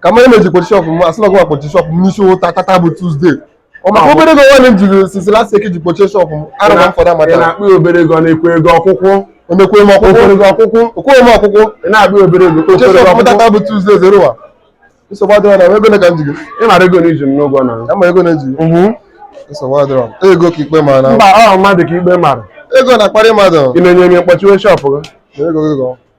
ka mmadụ na-eji kpochi shop m asịla gwa kpochi shop m n'isi ụtụtụ tata bụ Tuesday ọ maka obere ego nwanne m jiri since last week ji kpochie shop m Alaba m for that matter na-akpọ ya obere ego na-ekwe ego ọkwụkwụ omekwe m ọkwụkwụ ego ọkwụkwụ okwe m ọkwụkwụ ị na-akpọ ya obere ego kpochie okwe ego shop m tata ọkwụkwụ bụ Tuesday Zeruwa nsogbu adịrọ na ego ole ka m ji gị ị mara ego na i ji m n'ụgwọ na ama ego na-eji gị nsogbu adịrọ ego ka ikpe mara na mba ọ mmadụ ka ikpe mara ego na-akparị mmadụ ị na-enye onye mkpochiwe shop gị ego gị gọ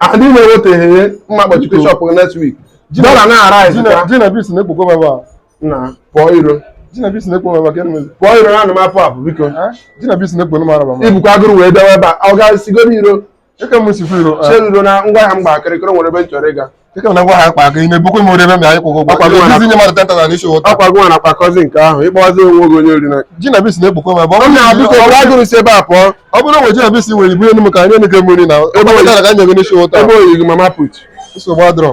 Ah, ndị na-eweteghị ihe mma kpochite shop gị next week dollar na-arise Jina ka Jinabis na-ekpokwa m ebe a. na pụọ iro Jinabis na-ekpo m ebe a ka enwezi. pụọ iro na anụ m apụ apụ biko Eh? Jinabis na-ekpo m Alaba m. i bukwa agụrụ wee bịawa ebe a ọ ga-esigoro iro Eke m si fụ iro. eh. chere iro na ngwa ahịa m gba akịrịkịrị nwere ebe m chọrọ ịga Dịka na ngwa ahịa akpa aka ime bukwe m ori ebe m anyị kwụgwọ Akwa gị ụgwọ nwere- ezi nye mmadụ 10,000 n'isi ụtụtụ ọkwa gị nwa na-akpakọzi nke ahụ ịkpọzi onwe gị onye ori na Jinabis na-ekpokwa m ebe ọ ọ bụrụ na na-abịa biko bụrụ agụrụ si ebe a pụọ ọ bụrụ na Jinabis nwere ibu enu m ka anyị enike m ori na ebe oyi- ọ ka nye gị n'isi ụtụtụ ebe oyi gị mama put nsogbu adịrọ